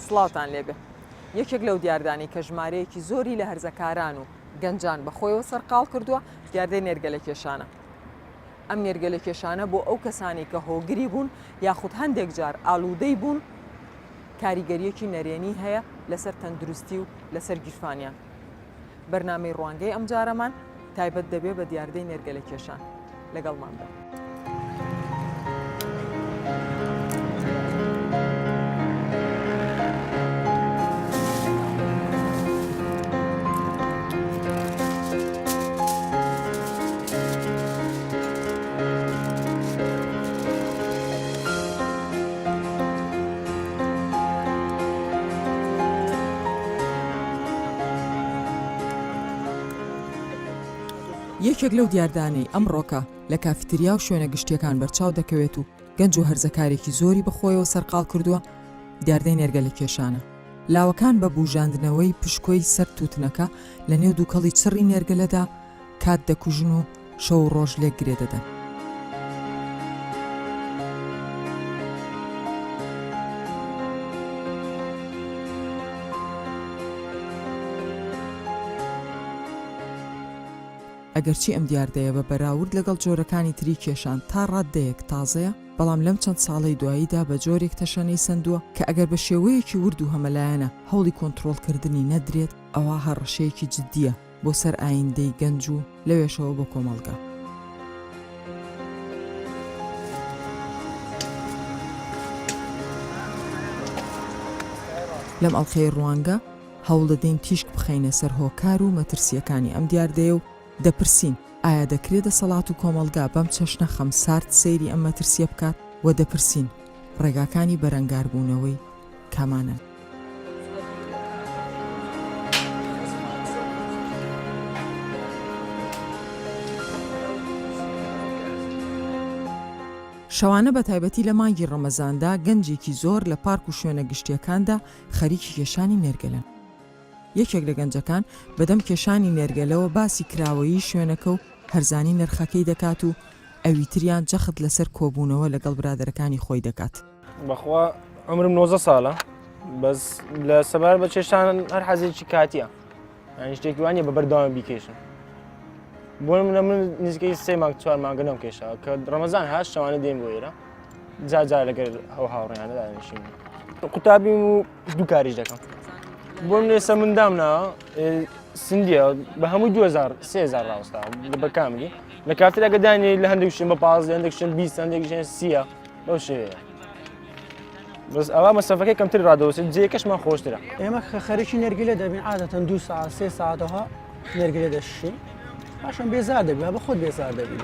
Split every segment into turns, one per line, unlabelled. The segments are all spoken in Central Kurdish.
سڵاوتان لێبێ یەکێک لەو دیاردانی کە ژمارەیەکی زۆری لە هەرزەکاران و گەنجان بەخۆیەوە سەرقاڵ کردووە دیاردەی نێرگەلە کێشانە ئەم نێرگەلەکێشانە بۆ ئەو کەسانەی کە هۆگری بوون یاخود هەندێک جار ئالوودەی بوون کاریگەریەکی نەرێنی هەیە لەسەر تەندروستی و لەسەر گیرفانیان. بەرنامەی ڕوانگەی ئەمجارەمان تایبەت دەبێ بە دیاردەی نێرگەلەکێشان. لەگەڵمان بن. یەکێک لەو دیاردانەی ئەمڕۆکە لە کافیتریا و شوێنە گشتیەکان بەرچاو دەکەوێت و گەنج و هەرزەکارێکی زۆری بەخۆیەوە سەرقال کردووە دیاردەی نێرگە لە کێشانە لاوەکان بە بوژاندنەوەی پشکۆی سەر تووتنەکە لە نێو دووکەڵی چڕی نێرگەلەدا کات دەکوژن و شەو و ڕۆژ لێک گرێ دەدەن. ئەگەرچی ئەم دیاردەیە بە بەراورد لەگەڵ جۆرەکانی تری کێشان تا ڕاددەیەک تازەیە، بەڵام لەم چەند ساڵەی دواییدا بە جۆرێک تەشەنەی سەندووە کە ئەگەر بە شێوەیەکی ورد و هەمەلایەنە هەوڵی کۆنتڕۆڵکردنی نەدرێت، ئەوا هەڕەشەیەکی جددییە. بۆ سەر ئایندەی گەنج و لەوێشەوە بۆ کۆمەڵگە. لەم ئەڵقەی ڕوانگە، هەوڵدەدەین تیشک بخەینە سەر هۆکار و مەترسییەکانی ئەم دیاردەیە و دەپرسین، ئایا دەکرێ دەسەڵات و کۆمەڵگا بەم چەشنە خەمسارد سەیری ئەم مەترسییە بکات؟ و دەپرسین، ڕێگاکانی بەرەنگاربوونەوەی کامانەن؟ شەوانە بە تایبەتی لە مانگی ڕەمەزاندا گەنجێکی زۆر لە پارک و شوێنە گشتیەکاندا خەریکی کێشانی نێرگەلن. یەکێک لە گەنجەکان بەدەم کێشانی نێرگەلەوە باسی کراوەیی شوێنەکە و هەرزانی نرخەکەی دەکات و ئەویتریان جەخت لەسەر کۆبوونەوە لەگەڵ برادەرەکانی خۆی دەکات. بەخوا
عمرم نۆزە ساڵە بەس لە سەبار بە چێشتان هەر حەزێکی کاتیە یان شتێکی وانە بە بەردەوام بیکێشن بۆ منە من نزیکەی سێ مانگ چوار مانگە نەم کێشا کە ڕەمەزان هاش شەوانە دێن بۆ ئێرە جا جا لەگەر ئەو هاوڕیانە دانیشین قوتابیم و دوو کاریش دەکەم بۆ من ئێستا مندام نا سندیە بە هەموو 2000 سێزار ڕاوستا بە کاملی لە کاتر ئەگەدانی لە هەندێک شتم بە پاز هەندێک شتم بیست هەندێک ژێن سیە بەو شێوەیە بەس ئەوە مەسەفەکەی کەمتر ڕادەوەسن جێکەشمان خۆشترە ئێمە خەرکی
نەرگلە دەبین عادەتەن دو سا سێ ساعتەها نەرگلە دەشین پاشان بێزار دەبێ بە خۆت بێزار دەبین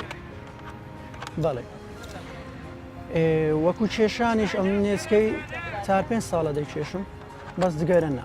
بەڵێ وەکو کێشانیش ئەم نێزکەی چار پێ ساڵە دەکێشم بەس دگەرە نا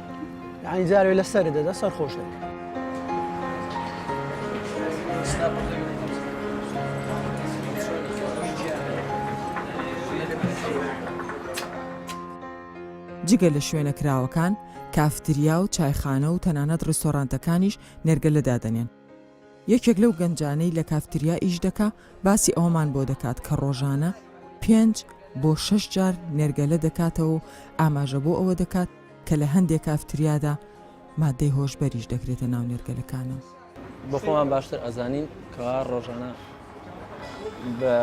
یعنی جارێ لە سەر دەدا سەر خۆش دەکە
جگە لە شوێنە کراوەکان کافتریا و چایخانە و تەنانەت ڕیستۆرانتەکانیش نێرگەلە دادەنێن یەکێک لەو گەنجانەی لە کافتریا ئیش دەکا باسی ئەوەمان بۆ دەکات کە ڕۆژانە پێنج بۆ شەش جار نێرگەلە دەکاتەوە و ئاماژە بۆ ئەوە دەکات کە لە هەندێک کافتریادا مادەی هۆشبەریش دەکرێتە ناو نێرگەلەکانەوە. بۆ خۆمان باشتر ئەزانین
کەوا ڕۆژانە بە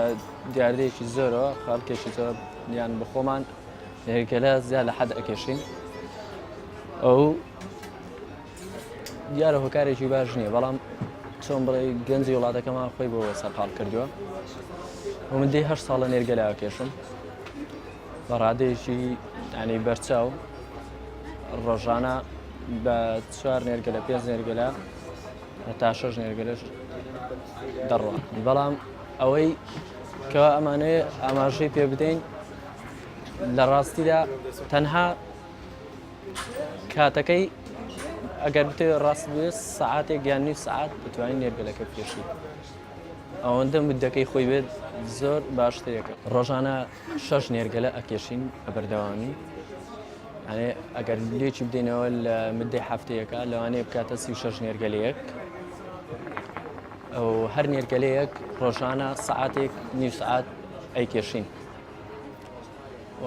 دیاردەیەکی زۆرەوە خەڵکێکی زۆر یان بە خۆمان نێرگەلە زیاد لە حەد ئەکێشین ئەو دیارە هۆکارێکی باش نییە بەڵام چۆن بڵێ گەنجی وڵاتەکەمان خۆی بۆ سەرقال کردووە من دێ هەر ساڵە نێرگەلاوە کێشم بە ڕادێکی ینی بەرچاو ڕۆژانە بە چوار نێرگە لە پێنج نێرگەلا هەتا شەش نێرگەلش دەڕوە بەڵام ئەوەی کە ئەمانەیە ئاماژەی پێ بدەین لە ڕاستیدا تەنها کاتەکەی ئەگەر بتێ ڕاست بێ سعاتێک یان نیو سعات بتوانین نێرگەلەکە بکێشیت ئەوەندە مدەکەی خۆی بێت زۆر باشترێکە ڕۆژانە شەش نێرگەلە ئەکێشین بە بەردەوامی ئەێ ئەگەر لێکی بدەینەوە لە مدەی هەفتەیەەکە لەوانەیە بکاتە سی شەش نێرگەلەیەک ئەو هەر نێرگەلەیەک ڕۆژانە سعاتێک نیو سعات ئەیکێشین و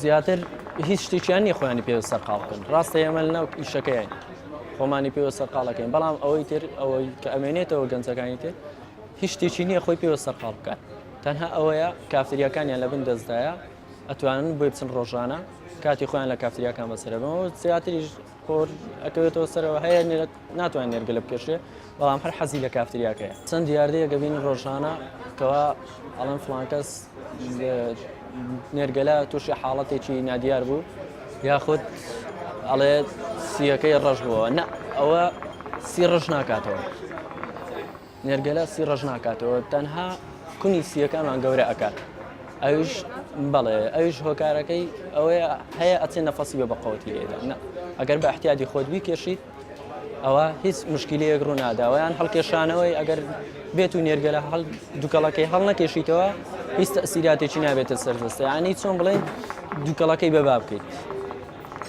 زیاتر هیچ شتێکیان نیە خۆیانی پێوە سەرقاڵ بکەن ڕاستە ئێمە لەناو ئیشەکەیان خۆمانی پێوە سەرقاڵەکەین بەڵام ئەوەی تر ئەوەی کە ئەمێنێتەوە گەنجەکانی تر هیچ شتێکی نییە خۆی پێوە سەرقاڵ بکات تەنها ئەوەیە کافتریاکانیان لە بن دەستدایە ئەتوانن بۆی بچن ڕۆژانە کاتی خۆیان لە کافتریاکان بەسەرەبەوە زیاتریش پۆر ئەکەوێتەوە سەرەوە هەیە نێرە ناتوانێت نێرگەلە بکێشێ بەڵام هەر حەزی لە کافتریاکەیە چەند دیاردەیە گەبین ڕۆژانە کەوا ئەڵەن فلانکەس نێرگەلە تووشی حاڵەتێکی نادیار بوو یاخود ئەڵێ سیەکەی ڕەش بووە نە ئەوە سی ڕەش ناکاتەوە نێرگەلە سی ڕەش ناکاتەوە تەنها کونی سیەکانمان گەورە ئەکات ئەوش بەڵێ ئەوش هۆکارەکەی ئەوەیە هەیە ئەچێ نەفەسی بە بەقەوەتی لێدا ئەگەر بە احتیادی خۆت بیکێشیت ئەوە هیچ مشکلەیەک ڕووناداوەیان هەڵکێشانەوەی ئەگەر بێت و نێرگەلە هەڵ دوکەڵەکەی هەڵ نەکێشیتەوە هیچ تەسیراتێکی نابێتە سەردەستەیانی چۆن بڵێن دوکەڵەکەی بەبا بکەیت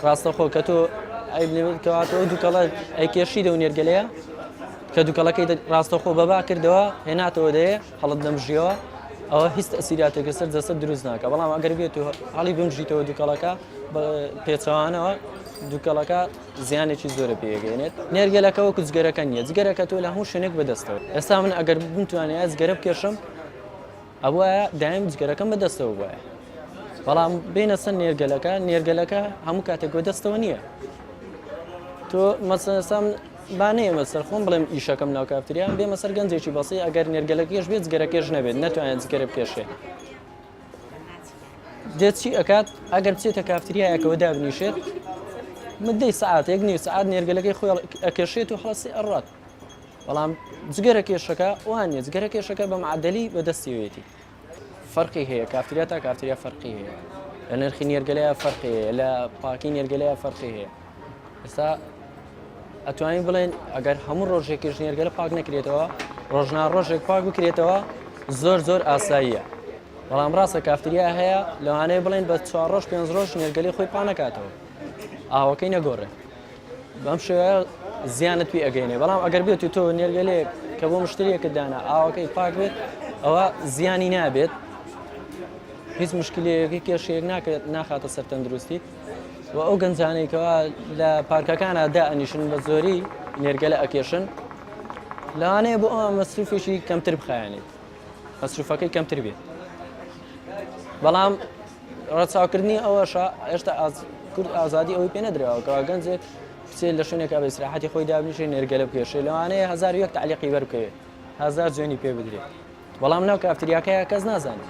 ڕاستەخۆ کە تۆ ئەی بنێتکەواتەوە دوکەڵە ئەیکێشی دە و نێرگەلەیە کە دوکەڵەکەی دە ڕاستەوخۆ بە با کردەوە هێناتەوە دەیێ هەڵت دەمژیەوە ئەوە هیچ تەسیراتێکە سەر جەسەد دروست ناکە بەڵام ئەگەر بێت و هەڵی بمژیتەوە دوکەڵەکە پێچەوانەوە دوکەڵەکە زیانێکی زۆرە پێگەێنێت نێرگەلەکەەوە کوچگەرەکە نیە جگەرەکە تۆ لە هەموو شوێنێک بەدەستەوە ئێستا من ئەگەر بتوانێت ئەزگەرە بکێشم ئەبوایە دایەم جگەرەکەم بە دەستەوە بوایە بەڵام بینە سەر نێرگەلەکە نێرگەلەکە هەموو کاتێک گۆ دەستەوە نییە تۆ مەسەسام با نێمە سەر خۆم بڵێم ئیشەکەم ناو کافتریان بێمە سەر گەنجێکی بەسی ئەگەر نێرگەلەکەش بێت گەرەکەش نەبێت نەتوانێت گەرە بکێشێت دێت چی ئەکات ئەگەر بچێتە کافتریایەکەەوە دابنیشێت مدەی سعاتێک نیو سعات نێرگەلەکەی خۆی ئەکەشێت و حڵسی ئەڕات بەڵام جگەرە کێشەکە وان نیە جگەرە کێشەکە بە معادلی بەدەستیوێتی فەرقی هەیە کافتریا تا کافتریا فەرقی هەیە لە نرخی نێرگەلەیە فەرقی هەیە لە پاکی نێرگەلەیە فەرقی هەیە ئێستا ئەتوانین بڵێن ئەگەر هەموو ڕۆژێکیش نێرگەلە پاک نەکرێتەوە ڕۆژنا ڕۆژێک پاک بکرێتەوە زۆر زۆر ئاساییە بەڵام ڕاستە کافتریا هەیە لەوانەیە بڵێن بە چوار ڕۆژ پێنج ڕۆژ نێرگەلی خۆی پانەکاتەوە ئاوەکەی نەگۆڕێت بەم شێوەیە زیانت پێ ئەگەینێ بەڵام ئەگەر بێت و تۆ نێرگەلەیەک کە بۆ مشتریەکە دانا ئاوەکەی پاک بێت ئەوە زیانی نابێت هیچ مشکلەیەکی کێشەیەک ناکرێت ناخاتە سەر تەندروستی و ئەو گەنجانێکەوە لە پارکەکانە دا ئەنیشن بە زۆری نێرگەلە ئەکێشن لەوانەیە بۆ ئەوە مەسروفێکی کەمتر بخایەنێت مەسروفەکەی کەمتر بێت بەڵام ڕەچاوکردنی ئەوەشە ئێشتا کورد ئازادی ئەوی پێ نەدراوەکەەوە گەنجێک بچێت لە شوێنێکا بە سراحەتی خۆی دابنیشێ نێرگەلە بکێشێ لەوانەیە هزار یەک تعلیقی بەرکەوێت هزار جوێنی پێ بدرێت بەڵام ناو کافتریاکەیە کەس نازانێت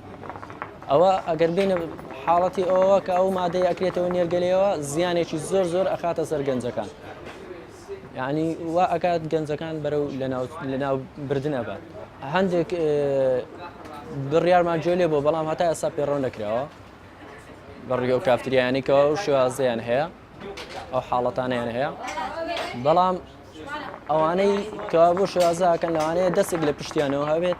ئەوە ئەگەر بێنە حاڵەتی ئەوە کە ئەو مادەی ئەکرێتەوە نێرگەلەوە زیانێکی زۆر زۆر ئەخاتە سەر گەنجەکان یعنی وا ئەکات گەنجەکان بەرەو لەناو بردن ئەبات هەندێک بڕیارمان جۆلێ بۆ بەڵام هەتا ئێستا پێڕۆ نەکراوە بەڕیگە و کافتریانی کەەوە و شێوازیان هەیە ئەو حاڵەتانیان هەیە بەڵام ئەوانەی کە بۆ شێوازەکەن لەوانەیە دەستێک لە پشتیانەوە هەبێت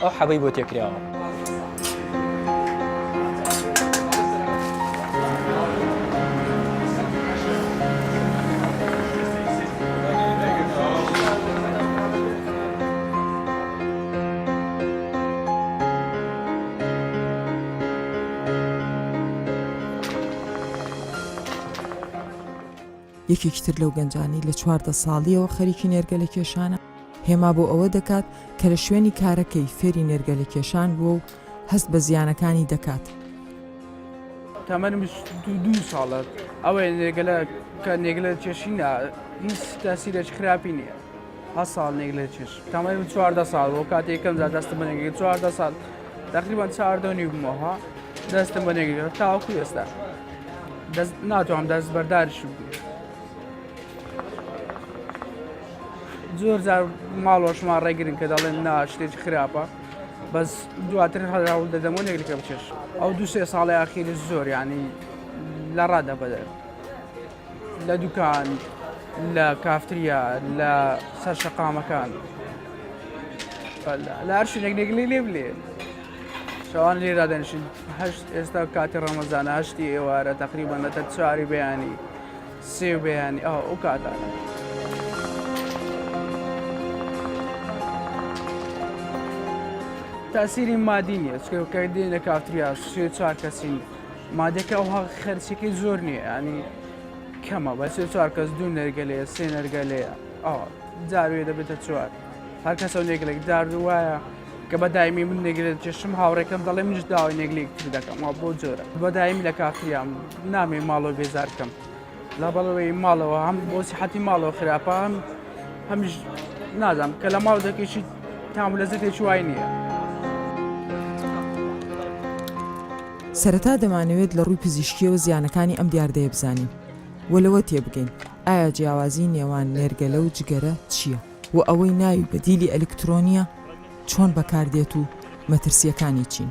ئەو حەبەی بۆ تێکراوە.
یەکێکی تر لەو گەنجانەی لە چواردە ساڵییەوە خەریکی نێرگەلە کێشانە، هێما بۆ ئەوە دەکات کە لە شوێنی کارەکەی فێری نێرگەلە کێشان بووە و هەست بە زیانەکانی دەکات.
تەمەنم بیست و دوو ساڵە، ئەوەیە نێرگەلە کە نێرگەلە دەکێشین هیچ تاسیرێکی خراپی نییە. هە ساڵ نێک لە چێش تەمەی من چواردە ساڵ بۆ کاتی یەکەم جار دەستم بە نێگری چواردە ساڵ تقریبان چواردە و نیو بمەوە دەستم بە نێگری تاوەکو ئێستا دەست ناتوانم دەست بەرداریش بکەم زۆر جار ماڵۆشما ڕێگرن کە دەڵێن نا شتێکی خراپە بەس دواتر هەراول دەدەمە نێگرکەم چێش ئەو دو سێ ساڵی ئاخیری زۆر ینی لە ڕادە بەدەر لە دوکان لە کافتریا لە سەر شەقامەکان لە هەر شوێنێک نێگلی لێ بلێ شەوان لێرا دەنشین هەشت ئێستا کاتی ڕەمەزانە هەشتی ئێوارە تقریبان لە تەر چواری بەیانی سێ بەیانی ئەو ئەو کاتانە. تاسیری مادی نیە چکەکە دێنە کافتریا سێ چوار کەسین مادەکە ئەوها خەرچەکەی زۆر نییە ینی کەمە بە سێ چوار کەس دوو نەرگە لێ سێ نەرگە لێ ئەو جاروێ دەبێتە چوار هەر کەسە و نێگلێک دارد وایە کە بە دایمی من نێگرێت کێشم هاوڕێکەم دەڵێ منش داوای نێگلێکتر دەکەم وا بۆ جۆرە بە دایم لە کافتریام نامێ ماڵۆ بێزارکەم. لابەرەوەی ماڵەوە هەم بۆ سیحەتی ماڵەوە خراپە هەم هەمیش نازانم کە لە ماڵ دەکەیشی تام لە زەکێکی وای نییە.
سەرەتا دەمانەوێت لە ڕووی پزیشکیەوە زیانەکانی ئەم دیاردەیە بزانین و لەوە تێبگەین ئایا جیاوازی نێوان نێرگەلە و جگەرە چییە و ئەوەی ناوی بەدیلی ئەلیکترۆنییە چۆن بەکاردێت و مەترسییەکانی چین؟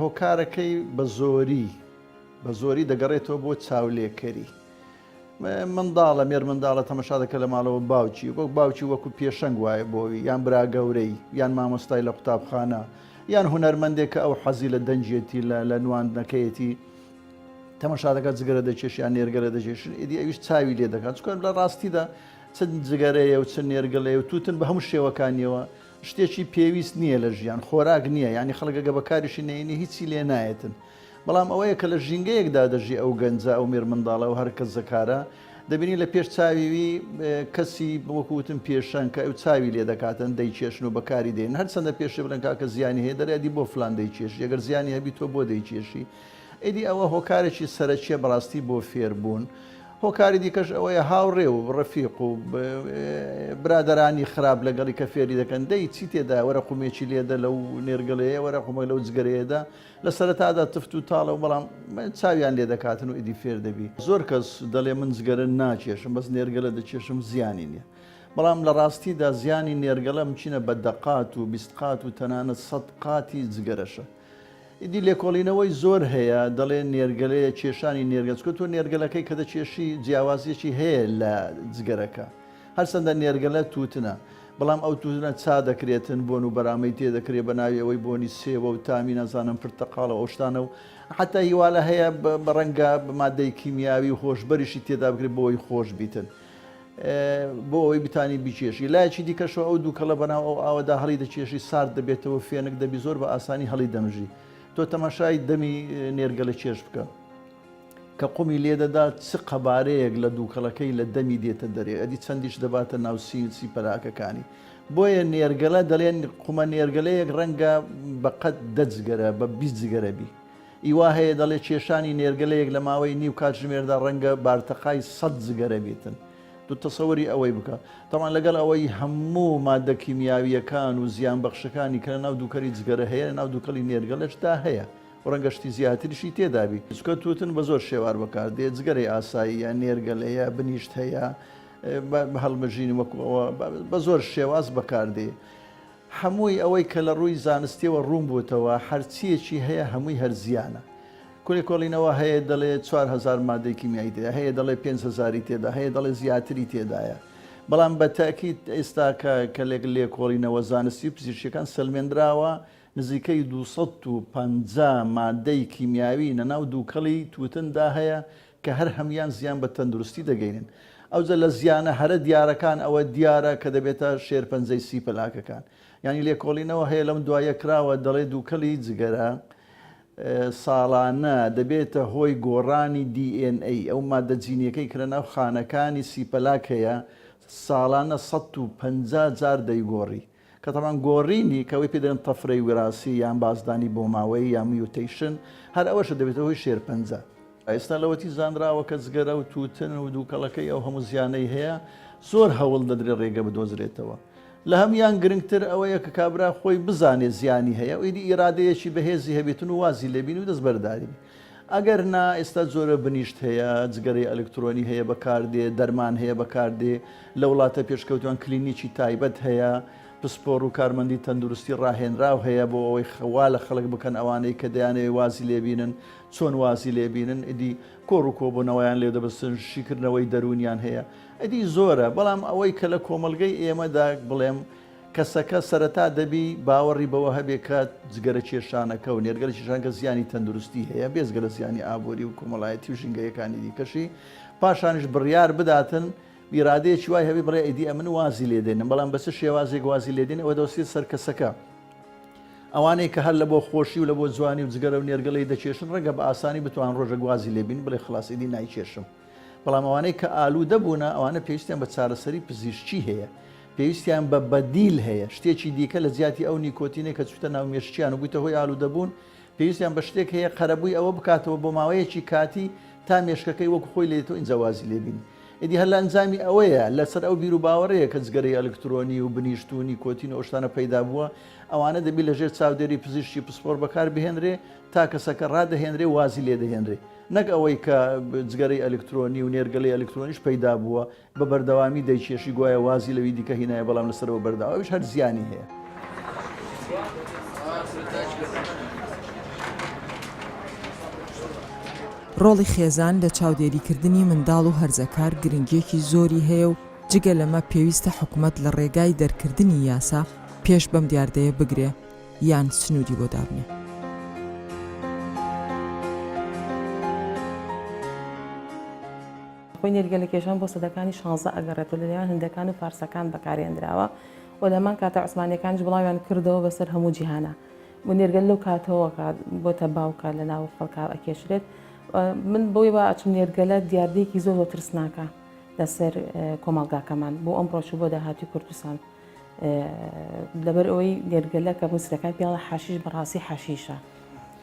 هۆکارەکەی بە زۆری بە زۆری دەگەڕێتەوە بۆ چاولێکەری منداڵە مێرمنداڵە تەمەشا دەکە لە ماڵەوە باوکی وەک باوکی وەکو پێشەنگ وایە بۆی یان براگەورەی یان مامۆستای لە قوتابخانە یان هوەرمەندێک کە ئەو حەزی لە دەنجێتی لە لە نواندنەکەیەتی تەمەشا دەکات جگەرە دەکێشیان نێرگەرە دەکێشن ئیدی ئەویش چاوی لێ دەکات چکار لە ڕاستیدا چەند جگەرەیە و چەند نێرگەڵەیە و توتن بە هەموو شێوەکانیەوە شتێکی پێویست نییە لە ژیان خۆراک نییە یانی خەڵک ئەگە بەکاریشی نەینی هیچی لێ نایەتن بەڵام ئەوەیە کە لە ژینگەیەکدا دەژی ئەو گەنجە ئەو مێر منداڵە و هەرکەس زەکارە دەبینی لە پێش چاویوی کەسی بۆکوتن پێشەن کە ئەو چاوی لێ دەکاتن دەیکێشن و بەکاری دێن هەرچەندە پێشێ بلەن کاکە زیانی هەیە دەرێدی بۆ فلان دەیکێش یەگەر زیانی هەبی تۆ بۆ دەیکێشی ئیدی ئەوە هۆکارێکی سەرەکیە بەڕاستی بۆ فێربوون. هۆکاری دیکەش ئەوەیە هاوڕێ و ڕەفیق و برادەرانی خراپ لەگەڵی کە فێری دەکەن دەی چی تێدا وەرە قومێکی لێدە لەو نێرگەلەیە وەرە قومەک لەو جگەرەیەدا لە سەرەتادا تفت و تاڵە و بەڵام چاویان لێ دەکاتن و ئیدی فێر دەبی زۆر کەس دەڵێ من جگەرە ناکێشم بەس نێرگەلە دەکێشم زیانی نییە بەڵام لە ڕاستیدا زیانی نێرگەڵە مچینە بە دەقات و بیست قات و تەنانەت سەد قاتی جگەرەشە ئیدی لێکۆڵینەوەی زۆر هەیە دەڵێ نێرگەلەیە کێشانی نێرگەل چکە تۆ نێرگەلەکەی کە دەکێشی جیاوازیەکی هەیە لە جگەرەکە هەرچەندە نێرگەلە تووتنە بەڵام ئەو تووتنە چا دەکرێتن بۆن و بەرامەی تێ دەکرێت بە ناوی ئەوەی بۆنی سێوە و تامی نازانم پرتەقاڵە ئەوشتانە و حتا هیوالە هەیە بە ڕەنگە بە مادەی کیمیاوی و هۆشبەریشی تێدا بکرێت بۆی خۆش بیتن بۆ ئەوەی بتانی بیکێشی لایەکی دیکەشەوە ئەو دووکەڵە بەناو ئەو ئاوەدا هەڵی دەکێشی سارد دەبێتەوە فێنک دەبی زۆر بە ئاسانی هەڵی دەمژی تۆ تەماشای دەمی نێرگەلە کێش بکە کە قومی لێدەدا چ قەبارەیەک لە دووکەڵەکەی لە دەمی دێتە دەرێ ئەدی چەندیش دەباتە ناو سینسی پەراکەکانی بۆیە نێرگەلە دەڵێن قومە نێرگەلەیەک ڕەنگە بەقەت دەجگەرە بە بیجگەرەبی ی وا هەیە دەڵێت کێشانی نێرگەلەیەک لە ماوەی نیو کاتژمێردا ڕەنگە بارتەقای سەد جگەرە بیتن. تو تەسەوری ئەوەی بکە. تەبعەن لەگەڵ ئەوەی هەموو ماددە کیمیاوییەکان و زیانبەخشەکانی کە لەناو دووکەلی جگەرە هەیە لەناو دووکەڵی نێرگەلەشدا هەیە و ڕەنگە شتی زیاتریشی تێدا بی. چونکە تووتن بە زۆر شێوار بەکار دێت، جگەرەی ئاساییە، نێرگەلەیە، بنیشت هەیە، بە هەڵمژین وەکو ئەوە بە زۆر شێواز بەکار دێ. هەمووی ئەوەی کە لە ڕووی زانستیەوە ڕوون بووتەوە هەرچیەکی هەیە هەمووی هەر زیانە کولێکۆڵینەوە هەیە دەڵێ چوار هەزار مادەی کیمیایی تێدایە هەیە دەڵێ پێنج هەزاری تێدا هەیە دەڵێ زیاتری تێدایە بەڵام بە تەئکید ئێستاکە کە لێک لێکۆڵینەوە زانستی و پزیشکیەکان سەلمێندراوە نزیکەی دوو سەد و پەنجا مادەی کیمیاوی نە ناو دووکەڵی تووتندا هەیە کە هەر هەموویان زیان بە تەندروستی دەگەینن. ئەوجە لە زیانە هەرە دیارەکان ئەوە دیارە کە دەبێتە شێرپەنجەی سی پەلاکەکان. یانی لێکۆڵینەوە هەیە لەم دواییە کراوە دەڵێ دووکەڵی جگەرە ساڵانە دەبێتە هۆی گۆڕانی DNA ئەو ماددە جینیەکەی کە لەناو خانەکانی سی پەلاک هەیە ساڵانە سەد و پەنجا جار دەیگۆڕی. کە تەبعەن گۆڕینی کە ئەوەی پێ دەڵێن تەفرەی وراسی یان بازدانی بۆماوەیی یان میوتەیشن هەر ئەوەشە دەبێتە هۆی شێرپەنجە. ئێستا لەوەتی زانراوە کە جگەرە و تووتن و دووکەڵەکەی ئەو هەموو زیانەی هەیە زۆر هەوڵ دەدرێت رێگە بدۆزرێتەوە لە هەموویان گرنگتر ئەوەیە کە کابرا خۆی بزانێت زیانی هەیە و ئیدی ئیرادەیەکی بەهێزی هەبێتن و وازی لێبین و دەستبەرداری ئەگەر نا ئێستا جۆرە بنیشت هەیە جگەرەی ئەلکترۆنی هەیە بەکاردێ دەرمان هەیە بەکاردێ لە وڵاتە پێشکەوتوان کلینیکی تایبەت هەیە پسپۆڕو کارمەندی تەندروستی ڕاهێنراو هەیە بۆ ئەوەی وا لە خەڵک بکەن ئەوانەی کە دەیانەوێ وازی لێ بینن چۆن وازی لێ بینن ئیدی کۆڕو کۆبونەوەیان لێ دەبستن شیکردنەوەی دەرونیان هەیە ئیدی زۆرە بەڵام ئەوەی کە لە کۆمەڵگەی ئێمەدا بڵێم کەسەکە سەرەتا دەبی باوەڕی بەوە هەبێ کە جگەرەکێشانەکە و نێرگەلەکێشانەکە زیانی تەندروستی هەیە بێجگە لە زیانی ئابووری و کۆمەڵایەتی و ژینگەیەکانی دیکەشی، پاشانیش بڕیار بداتن و ئیرادەیەکی وای هەبێ بڵێ ئیدی ئەمن وازی لێ دێنم، بەڵام بە چ شێوازێک وازی لێ دێنێ ئەوە دەوەستێت سەر کەسەکە. ئەوانەی کە هەر لە بۆ خۆشی و لە بۆ جوانی و جگەرە و نێرگەلەی دەکێشن ڕەنگە بە ئاسانی بتوان ڕۆژێک وازی لێ بین بڵێ خلاس ئیدی نایکێشم، بەڵام ئەوانەی کە ئالوودە بوونە ئەوانە پێویستیان بە چارەسەری پزیشکی هەیە، پێویستیان بە بەدیل هەیە، شتێکی دیکە لە جیاتی ئەو نیکۆتینەی کە چووتە ناو مێشکیان و بوویتە هۆی ئالوودەبوون، پێویستیان بە شتێک هەیە قەرەبووی ئەوە بکاتەوە بۆ ماوەیەکی کاتی تا مێشکەکەی وەکو خۆی لێدێتەوە ئینجا وازی لێبینی. ئیدی هەر لە ئەنجامی ئەوەیە لەسەر ئەو بیروباوەڕەیە کە جگەرەی ئەلکترۆنی و بنیشت و نیکۆتین و ئەو شتانە پەیدابووە، ئەوانە دەبی لەژێر چاودێری پزیشکی پسپۆڕ بەکاربهێنرێ تا کەسەکە ڕادەهێنرێ و وازی لێدەهێنرێ نەک ئەوەی کە جگەرەی ئەلکترۆنی و نێرگەلەی ئەلکترۆنیش پەیدابووە بە بەردەوامی دەیکێشی گوایە وازی لەوی دیکە هینایە بەڵام لەسەرەوە بەردەوا ئەویش هەر زیانی هەیە.
ڕۆڵی خێزان لە چاودێریکردنی منداڵ و هەرزەکار گرنگییەکی زۆری هەیە و جگە لەمە پێویستە حکومەت لە ڕێگای دەرکردنی یاسا پێش بەم دیاردەیە بگرێ یان سنووری بۆ دابنێ.
خۆی نێرگەلەکێشان بۆ سەدەکانی شانزە ئەگەڕێت و لە نێوان هندەکان و فارسەکان بەکارهێنراوە و لە هەمان کاتدا عوسمانییەکانیش بڵاویان کردەوە بەسەر هەموو جیهانا و نێرگەل لەو کاتەوە کە بۆتە باوکە لە ناو خەڵکا ئەکێشرێت و من بۆی وا ئەچم نێرگەلە دیاردەیەکی زۆر زۆر ترسناکە لەسەر کۆمەڵگاکەمان بۆ ئەمڕۆش و بۆ داهاتووی کوردستان. لەبەر ئەوەی گەرگەلە کە بۆ سرەکان پیاڵە حاشیش بەڕاستی حاشیشە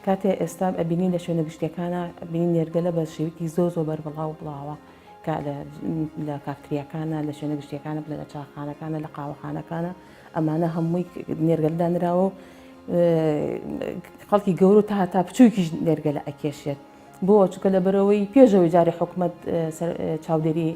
کاتێ ئێستا ئەبینین لە شوێنە گشتیەکانە بینی نێرگەلە بە شێوکی زۆ زۆ بەر بڵاو بڵاوە لە کاکتریەکانە لە شوێنە گشتیەکانە بلە لە چاخانەکانە لە قاوەخانەکانە ئەمانە هەمووی نێرگەلدانراوە و خەڵکی گەورە تا هەتا بچووکیش نێرگەلە ئەکێشێت بۆ؟ چونکە لەبەرئەوەی پێش ئەوەی جارێ حکومەت چاودێری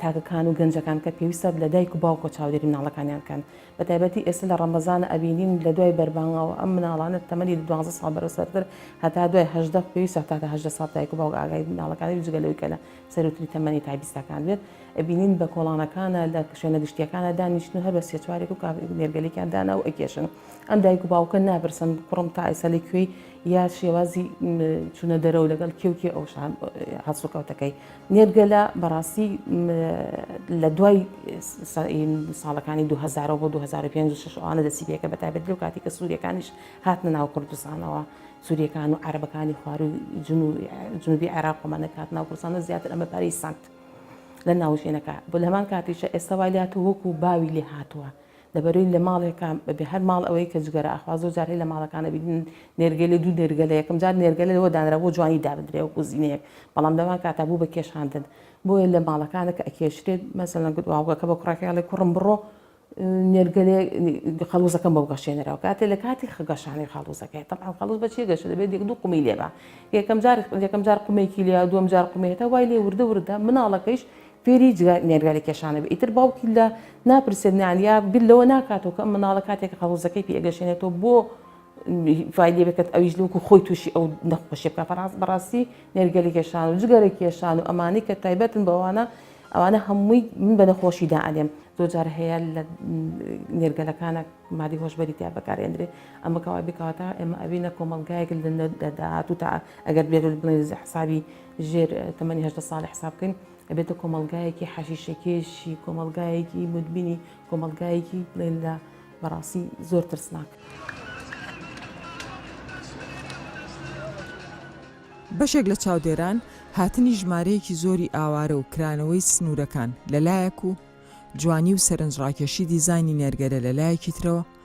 تاکەکان و گەنجەکان کە پێویستە لە دایک و باوکۆ چاودێری مناڵەکانیان بکەن بە تایبەتی ئێستا لە ڕەمەزانە ئەبینین لە دوای بەربانگەوە ئەم مناڵانە تەمەنی دوازدە ساڵ بەرە سەرتر هەتا دوای هەژدە پێویستە تاکە هەژدە ساڵ دایک و باوک ئاگای مناڵەکانی جگە لەوەی کە لە سەروتری تەمەنی تابیستەکان بێت ئەبینین بە کۆڵانەکانە لە شوێنە گشتیەکانە دانیشتن و هەر بە سێ چوارێک و کاپی نێرگەلێکیان دانا و ئەکێشن ئەم دایک و باوکە ناپرسن کوڕم تا ئێستا لە کوێی یا شێوازی چونە دەرەوە لەگەڵ کێوکی ئەوشان هەڵسوکەوتەکەی نێرگەلە بەڕاستی لە دوای ساڵەکانی 2000 بۆ 2005 ئەوانە دەسی پێکە بە تایبەت لەو کاتی کە سووریەکانیش هاتنە ناو کوردستانەوە سووریەکان و عربەکانی خوار و جنوبی عێراق ومانە کات ناو کوردستانە زیاتر ئەمە پارەی سند لە ناوژێنەکە بۆ لەمان کاتیشە ئێستا وای لات و وەکو باوی لێ هاتووە لەبەرەی لە ماڵێکا بەبێ هەر ماڵ ئەوەی کە جگەرە ئەخوا زۆر جار هەی لە ماڵەکانە بینین نێرگەلێ دوو نێرگەلە یەکەم جار نێرگەلە لەوە دانرا بۆ جوانی دابدرێ وەکو زینێک بەڵام لەوان کاتا بوو بە کێشاندن بۆیە لە ماڵەکانە کە ئەکێشرێت مەسەلەن گوتواوگەکە بە کوڕەکەی هەڵێ کوڕم بڕۆ نێرگەلێ خەڵوزەکەم بەو گەشێنەرەوە کاتێ لە کاتی خەگەشانی خەڵوزەکەی تەبعا خەڵوز بە چیە گەشە دەبێت یەک دوو قومی لێبا یەکەم جار یەکەم جار قومێکی لیا دووەم جار قومێتە وای لێ وردە وردە مناڵەکەیش فێری جگە مێرگە لە کێشانە بێ ئیتر باوکی لە ناپرسێت نان یا بیر لەوە ناکاتەوە کە ئەم مناڵە کاتێک کە قەڵوزەکەی پێ ئەگەشێنێتەوە بۆ فای لێ بکات ئەویش لەوەکو خۆی تووشی ئەو نەخۆشیە بکە فەراز بەڕاستی مێرگە لە کێشان و جگەرە کێشان و ئەمانەی کە تایبەتن بەوانە ئەوانە هەمووی من بە نەخۆشی دا ئەلێم زۆر جار هەیە لە نێرگەلەکانە مادی هۆشبەری تیا بەکارێندرێ ئەمە کەوا بکاتە ئێمە ئەوینە کۆمەلگایەک لە داهات و تا ئەگەر بێت بڵێ حسابی ژێر تەمەنی هەژدە ساڵی حساب بکەین ئەبێتە کۆمەلگایەکی حەشیشەکێشی کۆمەلگایەکی مدمینی کۆمەلگایەکی بڵێن لە بەڕاستی زۆر ترسناک.
بەشێک لە چاودێران هاتنی ژمارەیەکی زۆری ئاوارە و کرانەوەی سنوورەکان لەلایەک و جوانی و سەرنجڕاکێشی دیزاینی نێرگەلە لەلایەکی ترەوە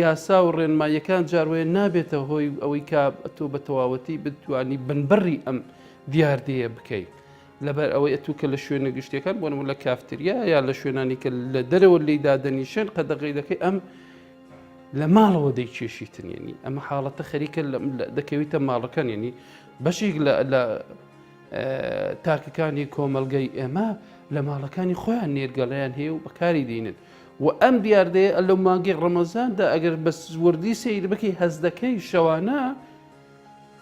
یاسا و ڕێنماییەکان جاروەیە نابێتە هۆی ئەوەی کا تۆ بە تەواوەتی بتوانی بنبڕی ئەم دیاردەیە بکەیت لەبەر ئەوەی ئەتو کە لە شوێنە گشتیەکان بۆن لە کافتریا یا لە شوێنانی کە لە دەرەوە لی دادەنیشێن قەدەغی دەکەی ئەم لە ماڵەوە دەی کێشیتنێنی ئەمە حاڵەتە خەریکە دەکەویتە ماڵەکان ینی بەشێک لە تاکەکانی کۆمەلگای ئێمە لە ماڵەکانی خۆیان نێرگەڵیان هەیە و بەکاری دێنێت و ئەم دیاردەیە لە مانگی ڕەمەزاندا ئەگەر بە وردی سەیر بکەی هەست دەکەی شەوانە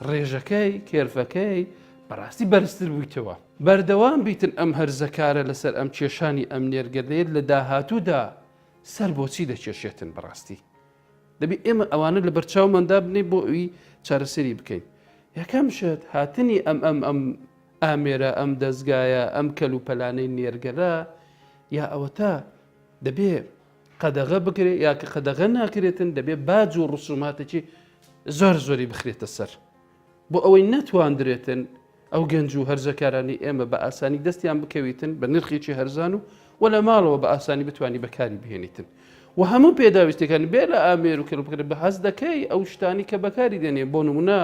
ڕێژەکەی کێرفەکەی بەڕاستی بەرزتر بوویتەوە بەردەوام بیتن ئەم هەرزەکارە لەسەر ئەم کێشانی ئەم نێرگەدەیت لە داهاتوودا سەر بۆچی دەکێشێتن بەڕاستی دەبێت ئێمە ئەوانە لە بەرچاومان دابنێ بۆ ئەوی چارەسەری بکەین یەکەم شت هاتنی ئەم ئەم ئەم ئامێرە ئەم دەستگایە ئەم کەل و پەلانەی نێرگەلە یا ئەوەتا دەبێ قەدەغە بکرێت یا کە قەدەغە ناکرێتن دەبێ باج و ڕسوماتێکی زۆر زۆری بخرێتە سەر بۆ ئەوەی نەتواندرێتن ئەو گەنج و هەرزەکارانەی ئێمە بە ئاسانی دەستیان بکەویتن بە نرخێکی هەرزان و و لە ماڵەوە بە ئاسانی بتانی بەکاری بهێنیتن و هەموو پێداویستەکان بێ لە ئامێر و کەلوپکرێت بە هەز دەکەی ئەو شتانی کە بەکاری دێنێ بۆ نمونە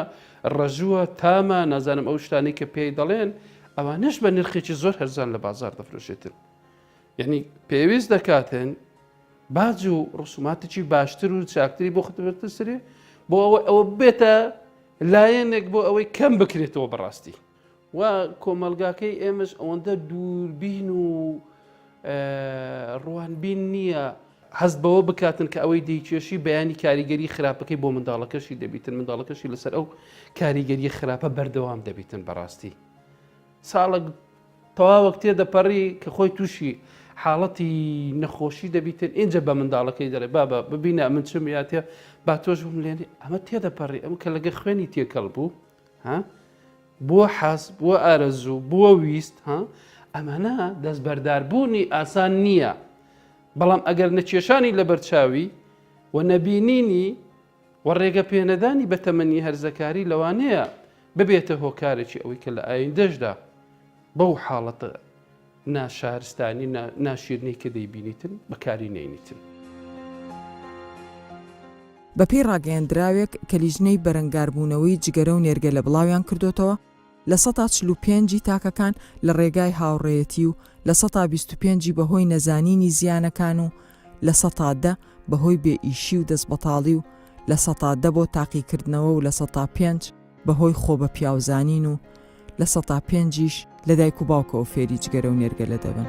ڕەژووە تامە نازانم ئەو شتانی کە پێی دەڵێن ئەوانش بە نرخێکی زۆر هەرزان لە بازار دەفرۆشێتن یعنی پێویست دەکاتن باج و ڕسوماتێکی باشتر و چاکتری بۆ خدمەتتر سرێ بۆ ئەوە ئەوە بێتە لایەنێک بۆ ئەوەی کەم بکرێتەوە بەڕاستی و کۆمەلگاکەی ئێمەش ئەوەندە دووربین و ڕوانبین نییە هەست بەوە بکاتن کە ئەوەی دەیکێشی بەیانی کاریگەری خراپەکەی بۆ منداڵەکەشی دەبیتن منداڵەکەشی لەسەر ئەو کاریگەری خراپە بەردەوام دەبیتن بەڕاستی ساڵک تەواوەک تێدەپەڕی کە خۆی تووشی حاڵەتی نەخۆشی دەبیتن ئینجا بە منداڵەکەی دەڵێ بابە ببینە ئەمن چم یاتێ با تۆش بم لێنێ ئەمە تێدەپەڕی ئەم کە لەگە خوێنی تێکەڵ بوو ها بووە حەز بووە ئارەزوو بووە ویست ها ئەمانە دەستبەرداربوونی ئاسان نییە بەڵام ئەگەر نەکێشانی لەبەرچاوی و نەبینینی و ڕێگە پێنەدانی بە تەمەنی هەرزەکاری لەوانەیە ببێتە هۆکارێکی ئەوەی کە لە ئایندەشدا بەو حاڵەتە ناشارستانی ناشیرنەی کە دەیبینیتن بەکاری نەینیتن.
بەپێی ڕاگەیەندراوێک کە لیژنەی بەرەنگاربوونەوەی جگەرە و نێرگەلە بڵاویان کردۆتەوە، لە سەتا چل و پێنج ی تاکەکان لە ڕێگای هاوڕێیەتی و لە سەتا بیست و پێنج ی بەهۆی نەزانینی زیانەکان و لە سەتا دە بەهۆی بێ ئیشی و دەستبەتاڵی و لە سەتا دە بۆ تاقیکردنەوە و لە سەتا پێنج بەهۆی خۆ بە پیاو زانین و لە سەتا پێنج یش لە دایک و باوکەوە فێری جگەرە و نێرگەلە دەبن.